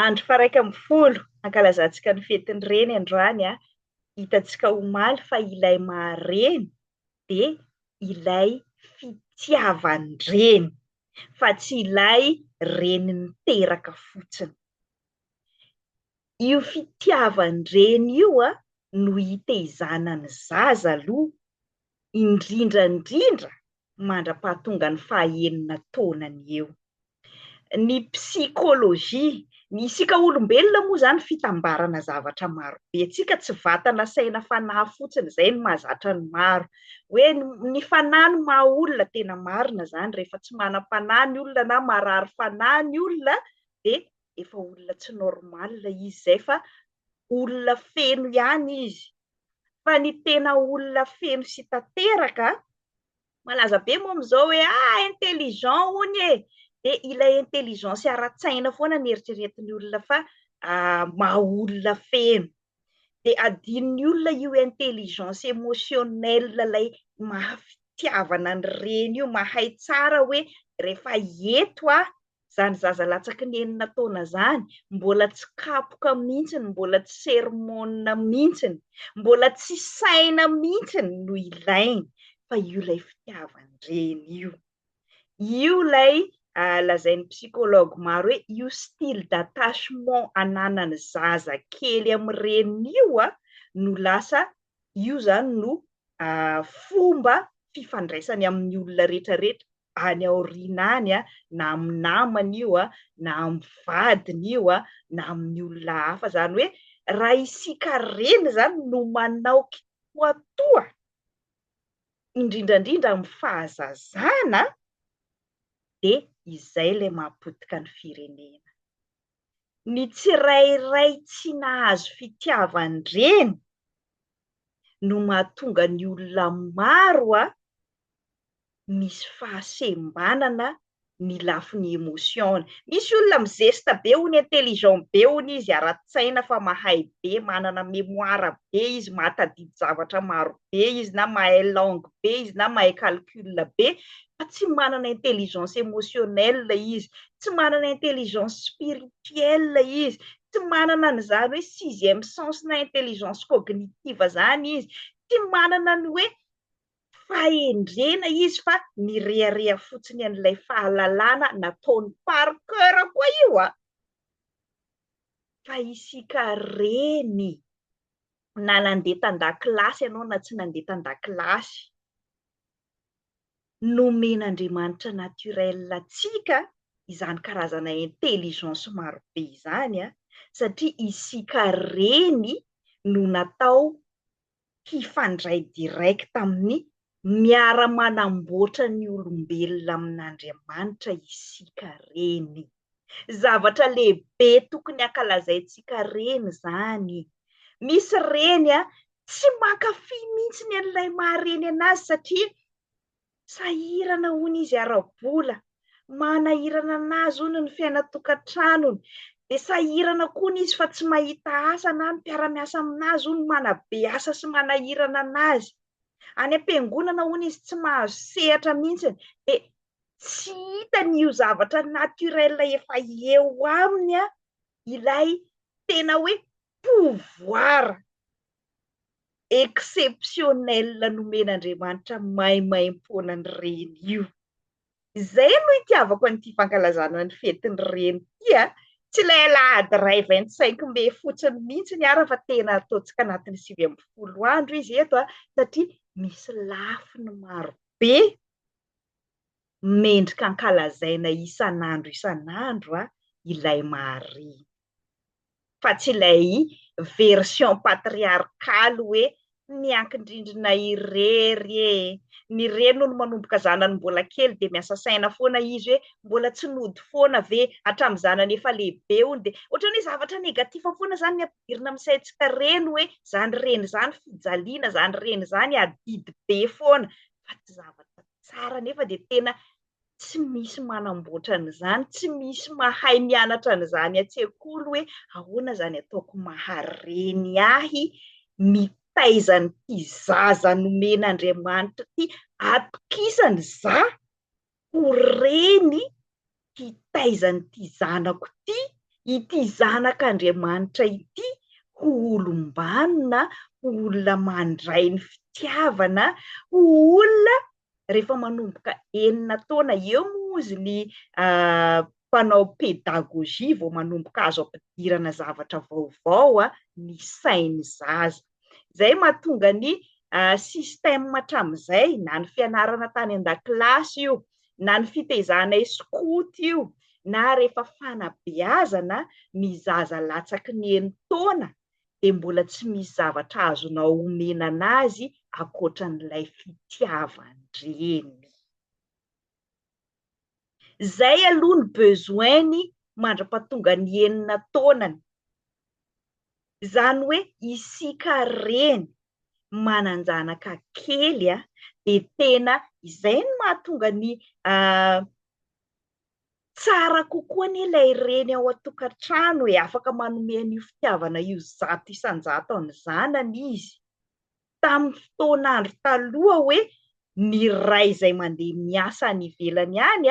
Andro faraika ambin'ny folo ankalazantsika ny fetin'ny reny androany a. Hitantsika omaly fa ilay maha reny dia ilay fitiavan-dreny fa tsy ilay reny niteraka fotsiny. Io fitiavan-dreny io a no iteizana ny zaza aloha indrindra indrindra mandra-pahatongan'ny fahaenina taonany eo. Ny psikôlôjia, ny isika olombelona moa izany fitambarana zavatra marobe, antsika tsy vatana, saina, fanahy fotsiny, izay no mahazatra ny maro. Hoe ny fanahy no maha olona, tena marina izany, rehefa tsy manam-panahy ny olona na marary fanahy ny olona dia efa olona tsy normal izy izay fa olona feno ihany izy, fa ny tena olona feno sy tanteraka malaza be moa amin'izao hoe ah intelligent hono e dia ilay intelligence ara-tsaina foana ny eritreretin'ny olona fa ah, maha olona feno dia adinon'ny olona io intelligence émotionnelle ilay maha fitiavana ny reny io mahay tsara hoe rehefa eto aho zany zaza latsaky ny enina taona zany mbola tsy kapoka mintsiny mbola tsy sermona mintsiny mbola tsy saina mintsiny no ilainy fa io lay fitiavany reny io io lay ah, lazain'ny psychologue maro hoe io style d'attachement ananany zaza kely amin'ny reny io a ah, no lasa Io izany no fomba fifandraisany amin'ny olona rehetrarehetra any aoriana any, na amin'ny namany io, na amin'ny vadiny io, na amin'ny olona hafa. Izany hoe raha isika reny izany no manao kitoatoa, indrindra indrindra amin'ny fahazazana, dia izay ilay maha potika ny firenena. ny tsirairay tsy nahazo fitiavan-dreny no mahatonga ny olona maro a misy fahasembanana ny lafiny emotion-ny. Misy olona mizesta be hono, intelligent be hono izy ara-tsaina fa mahay be, manana mémoire be izy, mahatadidy zavatra maro be izy na mahay langue be izy na mahay calcul be fa tsy manana intelligence émotionnelle izy, tsy manana intelligence spirituelle izy, tsy manana an'izany hoe sixième sens na intelligence cognitive zany izy, tsy manana ny hoe fahendrena izy fa mirehareha fotsiny an'ilay fahalalana nataony par coeur koa io an! Fa isika reny na nandeha tan-dakilasy ianao na tsy nandeha tan-dakilasy, nomen'Andriamanitra naturel antsika izany karazana intelligence maro be izany satria isika reny no natao hifandray direct amin'ny Miara-manamboatra ny olombelona amin'Andriamanitra isika reny. Zavatra lehibe tokony ankalazaintsika reny izany. Misy reny tsy mankafy mihitsy an'ilay maha-reny anazy satria sahirana hono izy ara-bola, manahirana anazy hono ny fiainan-tokantranony, dia sahirana koa hono izy fa tsy mahita asa na ny mpiara-miasa aminazy hono manabe asa sy manahirana anazy. Any am-piangonana hono izy tsy mahazo sehatra mihitsy dia tsy hitany io zavatra naturel efa eo aminy ilay tena hoe pouvoir exceptionnel nomen'Andriamanitra maimaimpoana ny reny io. Izay no itiavako an'ity fankalazana ny fetin'ny reny ity a! Tsy ilay alahady iray vingt cinq mai fotsiny mihitsy ny ara fa tena ataontsika anatin'ny sivy ambin'ny folo andro izy eto a! satria misy lafiny maro be mendrika ankalazaina isan'andro isan'andro ilay maha reny. fa tsy ilay version patriarcal hoe miankin-drindrina irery e! Ny reny hono manomboka zanany mbola kely dia miasa saina foana izy hoe mbola tsy nody foana ve? Hatramin'ny zanany efa lehibe hono dia ohatran'ny hoe zavatra negatif foana izany ny ampidirina amin'ny saintsika reny hoe izany reny izany fijaliana, izany reny izany adidy be foana fa tsy zavatra tsara nefa dia tena tsy misy manamboatra an'izany, tsy misy mahay mianatra an'izany an-tsekoly hoe ahoana izany ataoko mahareny ahy mitaiza an'ity zaza nomen'Andriamanitra ity, atokisany za ho reny hitaiza an'ity zanako ity, ity zanak'Andriamanitra ity ho olom-banona, ho olona mandray ny fitiavana, ho olona rehefa manomboka enina taona eo moa ozy ny mpanao pédagogie vao manomboka azo ampidirana zavatra vaovao ny sain'ny zaza. Izay mahatonga ny système hatramin'izay, na ny fianarana tany an-dakilasy io, na ny fitezanay skoto io, na rehefa fanabeazana ny zaza latsaky ny enin-taona, dia mbola tsy misy zavatra azonao omena an'azy ankoatran'ilay fitiavan-dreny. Izay aloha ny besoin-ny mandra-pahatonga ny enina taonany. Izany hoe isika reny manan-janaka kely dia tena izay no mahatonga ny Tsara kokoa anie ilay reny ao an-tokantrano e, afaka manome an'io fitiavana io zato isan-jato an'ny zanany izy. Tamin'ny fotoan'andro taloha hoe ny ray izay mandeha miasa any ivelany any,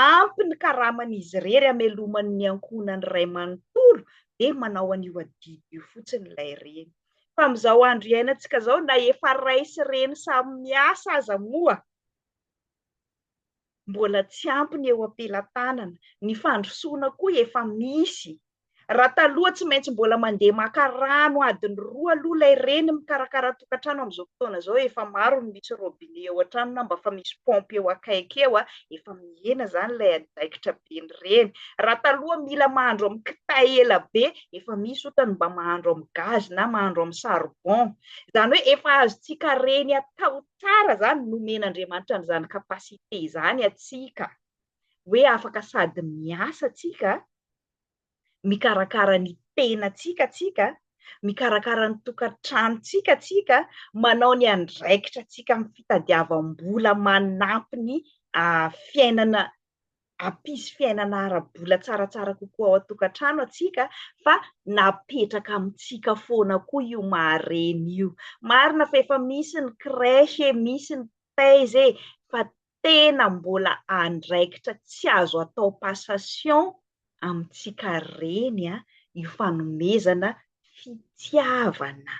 ampy ny karaman'izy irery hamelomany ny ankohonany iray manontolo dia manao an'io adidy io fotsiny ilay reny. Fa amin'izao andro iainantsika izao na efa ray sy reny samy miasa aza moa, mbola tsy ampy ny eo am-pelatanana, ny fandrosoana koa efa misy. Raha taloha tsy maintsy mbola mandeha maka rano adiny roa aloha ilay reny mikarakara tokantrano amin'izao fotoana izao efa maro ny misy robinet eo an-trano na mba fa misy pompe eo akaiky eo, efa mihena izany ilay andraikitra be ny reny. Raha taloha mila mahandro amin'ny kitay ela be, efa misy otany mba mahandro amin'ny gaz na mahandro amin'ny charbon. Izany hoe efa azontsika reny atao tsara izany nomen'Andriamanitra an'izany capacité izany antsika, hoe afaka sady miasa antsika, mikarakara ny tenantsika antsika, mikarakara ny tokantranontsika antsika, manao ny andraikitra antsika amin'ny fitadiavam-bola manampy ny fiainana hampisy fiainana ara-bola tsaratsara kokoa ao an-tokantrano antsika fa napetraka amintsika foana koa io maha reny io. Marina fa efa misy ny crèche e, misy ny paiz e, fa tena mbola andraikitra tsy azo atao passation amintsika reny io fanomezana fitiavana.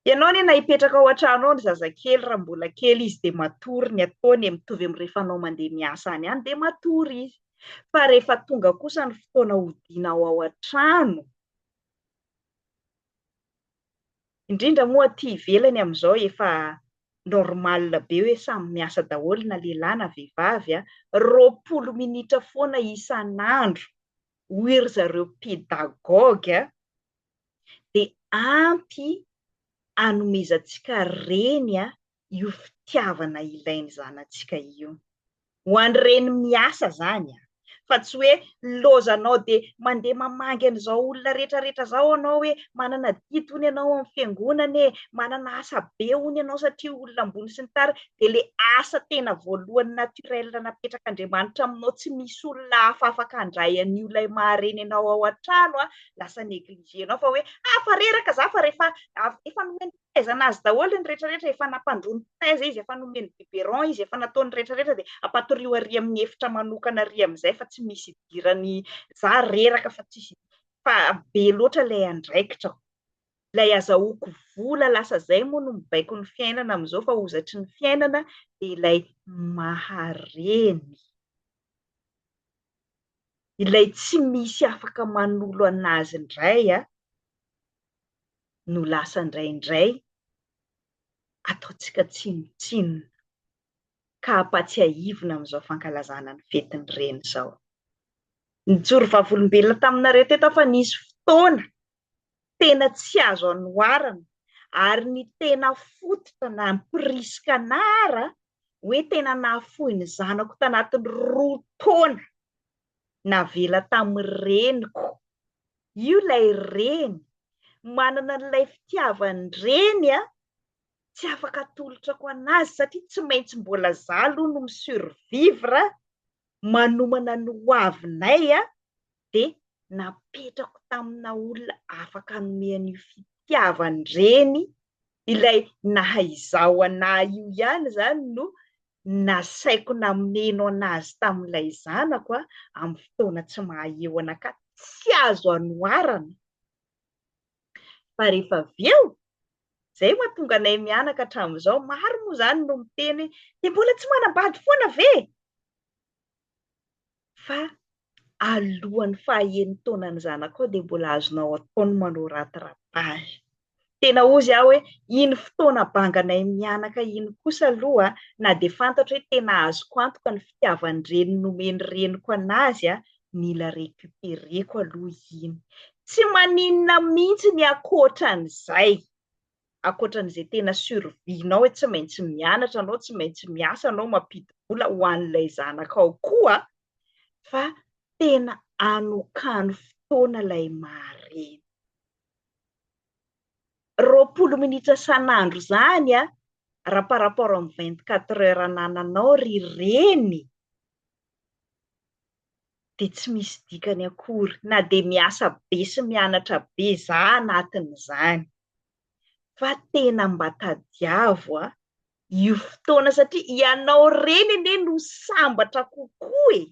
Ianao anie na hipetraka ao an-trano ao ny zazakely raha mbola kely izy dia matory ny ataony e, mitovy amin'ny rehefa anao mandeha miasa any ihany dia matory izy. Fa rehefa tonga kosa ny fotoana hodianao ao an-trano, indrindra moa aty ivelany amin'izao efa normal be hoe samy miasa daholo na lehilahy na vehivavy, roapolo minitra foana isan'andro hoy ry zareo pedagogue, dia ampy anomezantsika reny io fitiavana ilay ny zanatsika io. Ho an'ny reny miasa izany fa tsy hoe lozanao dia mandeha mamangy an'izao olona rehetra rehetra izao ianao hoe manana didy hono ianao amin'ny fiangonana e, manana asa be hono ianao satria olona ambony sy ny tariny, dia ilay asa tena voalohany naturel napetrak'Andriamanitra aminao tsy misy olona hafa afaka handray an'io ilay maha reny anao ao an-trano lasa negligenao fa hoe ah fa reraka za fa rehefa efa nomeny fahaizana azy daholo ny rehetra rehetra efa nampandroany taiza izy efa nomeny biberon izy efa nataony rehetra rehetra dia ampatorio ary amin'ny efitra manokana ary amin'izay fa tsy misy idirany za reraka fa tsisy fa be loatra ilay andraikitra ilay azahoako vola lasa zay moa no mibaiko ny fiainana amin'izao fa hozatry ny fiainana dia ilay mahareny ilay tsy misy afaka manolo an'azy indray a, no lasa indraindray ataontsika tsinontsinona ka ampatsiahivina amin'izao fankalazana ny fetin'ny Reny izao. Nijoro vavolombelona taminareo teto aho fa nisy fotoana tena tsy azo anoharana ary ny tena fototra nampirisika anara hoe tena nahafoy ny zanako tanatin'ny roa taona navela tamin'ny reniko. Io ilay reny, manana an'ilay fitiavan'ny reny a, tsy afaka atolotra ko anazy satria tsy maintsy mbola za aloha no mi-survivre manomana ny hoavinay a, dia napetrako tamina olona afaka hanome an'io fitiavany reny, ilay naha izaho an'ahy io ihany izany no nasaiko nameno an'azy tamin'ilay zanako aho amin'ny fotoana tsy maha eo anakah, tsy azo anoharana fa rehefa avy eo izay mahatonga anay mianaka hatramin'izao, maro moa izany no miteny hoe dia mbola tsy manambady foana ve? fa alohan'ny faha enina taona ny zanakao dia mbola azonao atao ny manao rattrapage, tena hozy aho hoe iny fotoana banganay mianaka iny kosa aloha na dia fantatro hoe tena azoko antoka ny fitiavan-dreny nomen'ny reniko an'azy a, mila recupereko aloha iny, tsy maninona mihintsy ny ankoatran'izay. ankoatran'izay tena survie-nao hoe tsy maintsy mianatra anao, tsy maintsy miasa anao mampidi-bola ho an'ilay zanakao koa fa tena anokano fotoana ilay maha-reny. Roapolo minitra san'andro izany a, raha par rapport amin'ny vingt-quatre heures anananao ry reny. dia tsy misy dikany akory na dia miasa be sy mianatra be za anatin'izany fa tena mba tadiavo a io fotoana satria ianao reny anie no sambatra kokoa e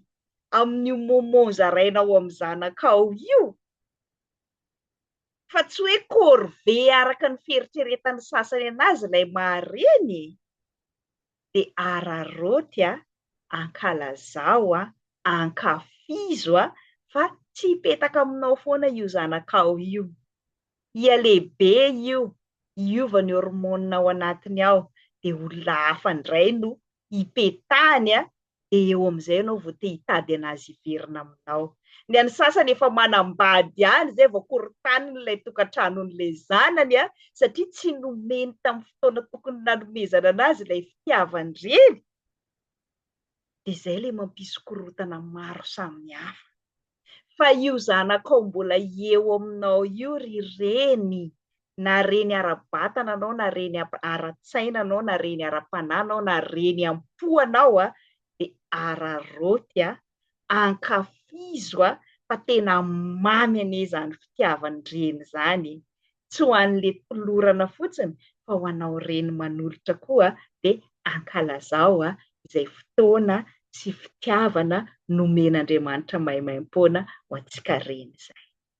amin'io moment zarainao amin'ny zanakao io fa tsy hoe corvee araka ny fieritreretan'ny sasany anazy ilay maha reny e. de araraoty a, ankalazao a, ankafizo a, fa tsy hipetaka aminao foana io zanakao io. Hihalehibe io, hiova ny hormonina ao anatiny ao, de olona hafa ndray no hipetahany a, dia eo amin'izay ianao vao te hitady an'azy hiverina aminao. Ny an'ny sasany efa manambady ihany izay vao korontaniny ilay tokantranon'ilay zanany an, satria tsy nomeny tamin'ny fotoana tokony nanomezana an'azy ilay fitiavan-dreny, dia izay ilay mampisy korontana maro samihafa. fa io zanakao mbola eo aminao io ry reny, na reny ara-batana anao na reny ara-tsaina anao na reny ara-panahy anao na reny am-po anao a, dia araraoty a, ankafizo a, fa tena mamy anie izany fitiavan-dreny izany e! tsy ho an'le tolorana fotsiny fa ho anao reny manolotra koa de ankalazao izay fotoana sy fitiavana nomen'Andriamanitra maimaimpoana ho antsika reny izay.